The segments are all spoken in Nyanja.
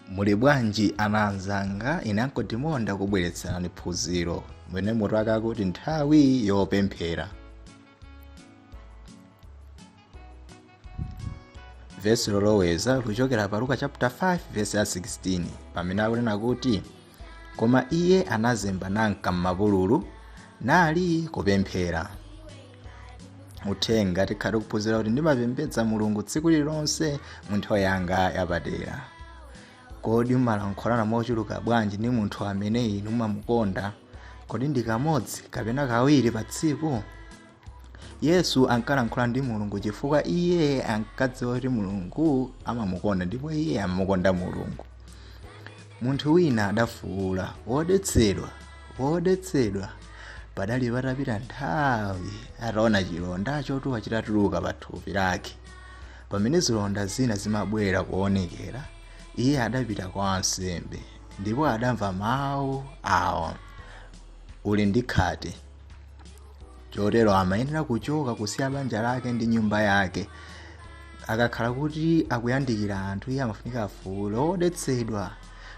muli bwanji ana anzanga ine uncle timo ndakubweretserani phunziro limene mutu wake akuti nthawi yopemphera vesi loloweza likuchokera pa luka chapter 5 vesi ya 16 pamene akunena kuti koma iye anazemba nanka m'mapululu nali kupemphera uthenga tikhala tikuphunzira kuti ndimapembedza mulungu tsiku lililonse mu nthawi yanga yapadera kodi mumalankhulana mochuluka bwanji ndi munthu amene inu mumamukonda kodi ndi kamodzi kapena kawiri pa tsiku yesu ankalankhula ndi mulungu chifukwa iye ankadziwa kuti mulungu amamukonda ndipo iye amamukonda mulungu munthu wina adafuwula wodetsedwa wodetsedwa padali patapita nthawi ataona chilonda chotuwa chitatuluka pa thupi lake pamene zilonda zina zimabwera kuonekera iye adapita kwa ansembe ndipo adamva mawu awa uli ndi khate chotero amayenera kuchoka kusiya banja lake ndi nyumba yake akakhala kuti akuyandikira anthu iye amafunika afuule wodetsedwa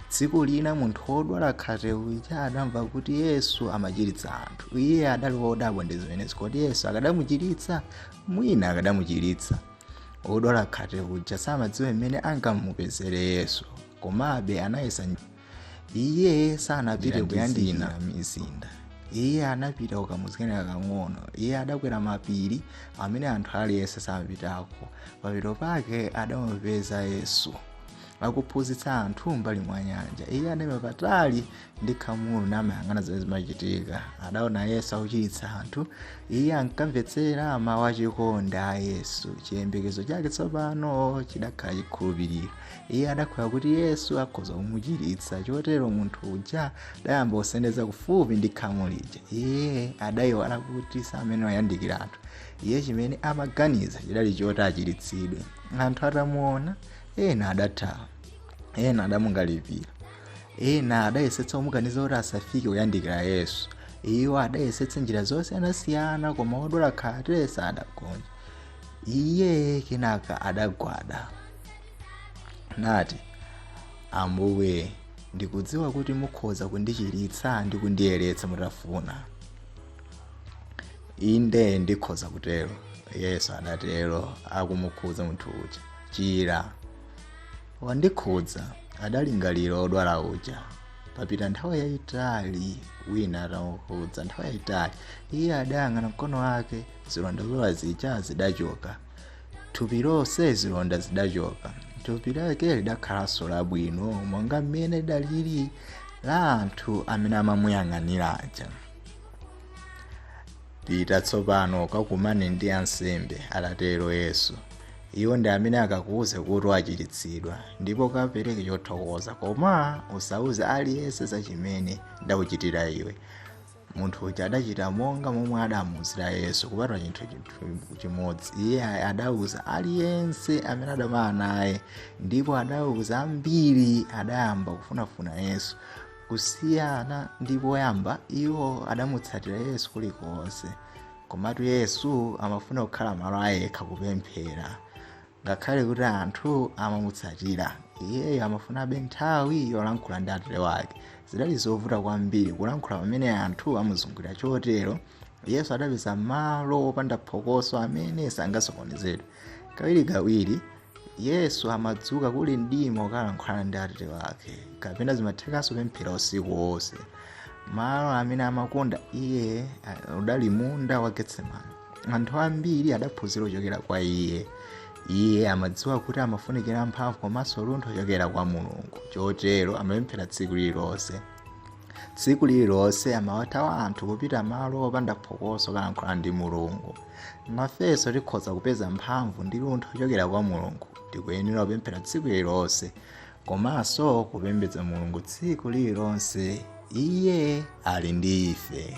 tsiku lina munthu wodwala khate uja adamva kuti yesu amachiritsa anthu iye adali wodabwa ndi zimenezi kodi yesu akadamuchiritsa mwina akadamuchiritsa wodwala khate uja samadziwa mmene angamupezere yesu komabe anayesa iye sanapite kuyandikira mizinda iye anapita kukamudzi kena kakang'ono iye adakwera mapiri amene anthu aliyense samapitako pamapeto pake adamupeza yesu akuphunzitsa anthu mbali mwa nyanja iye adaima patali ndi khamulo namayang'ana zimene zimachitika adaona yesu akuchiritsa anthu iye ankamvetsera mawu achikondi a yesu chiyembekezo chake tsopano chidakhala chikhulupiriro iye adakhulupirira kuti yesu akhoza kumuchiritsa chotero munthu uja adayamba kusendeza kufupi ndi khamu lija iye adayiwala kuti samayenera kuyandikira anthu iye chimene amaganiza chidali choti achiritsidwe anthu atamuona ena adathawa ena adamukalipira ena adayesetsa kumukaniza kuti asafike kuyandikira yesu iwo adayesetsa njira zosiyanasiyana koma wodwala khate sadagonje iye kenaka adagwada nati ambuye ndikudziwa kuti mukhoza kundichiritsa ndi kundiyeretsa mutafuna inde ndikhoza kutero yesu adatero akumukhudza munthu uja chira wandikhudza adalingalira odwala uja papita nthawi yayitali wina atamukhudza nthawi yayitali iye adayang'ana mkono wake zilonda zoola zija zidachoka thupi lonse zilonda zidachoka thupi lake lidakhalanso labwino monga mmene lidalili la anthu amene amamuyang'anira aja pita tsopano kakumane ndi ansembe adatero yesu iwo ndi amene akakuuze kuti wachiritsidwa ndipo kapereke chothokoza koma usauze aliyense za chimene ndakuchitira iwe munthu uja adachita monga momwe adamuuzira yesu kupatula chinthu chimodzi iye adauza aliyense amene adakumana naye ndipo adauza ambiri adayamba kufunafuna yesu kusiyana ndi poyamba iwo adamutsatira yesu kulikonse komatu yesu amafuna kukhala malo ayekha kupemphera Ngakhale kuti anthu amamutsatira, iyeyo amafunabe nthawi yolankhula ndi Atate wake. Zidali zovuta kwambiri kulankhula pamene anthu amuzungulira. Chotero Yesu adapeza malo opanda phokoso amene sangasokonezedwe. Kawirikawiri, Yesu amadzuka kuli mdima kukalankhulana ndi Atate wake, kapena zimathekanso kupemphera usiku wonse. Malo amene amakonda iye udali munda wa Getsemani. anthu ambiri adaphunzira kuchokera kwa iye iye amadziwa kuti amafunikira mphamvu komanso luntho kuchokera kwa mulungu chotero amapemphera tsiku lililonse tsiku lililonse amawathawa anthu kupita malo opanda phokoso kukalankhula ndi mulungu nafenso tikhoza kupeza mphamvu ndi luntho kuchokera kwa mulungu tikuyenera kupemphera tsiku lililonse komanso kupembedza mulungu tsiku lililonse iye ali ndi ife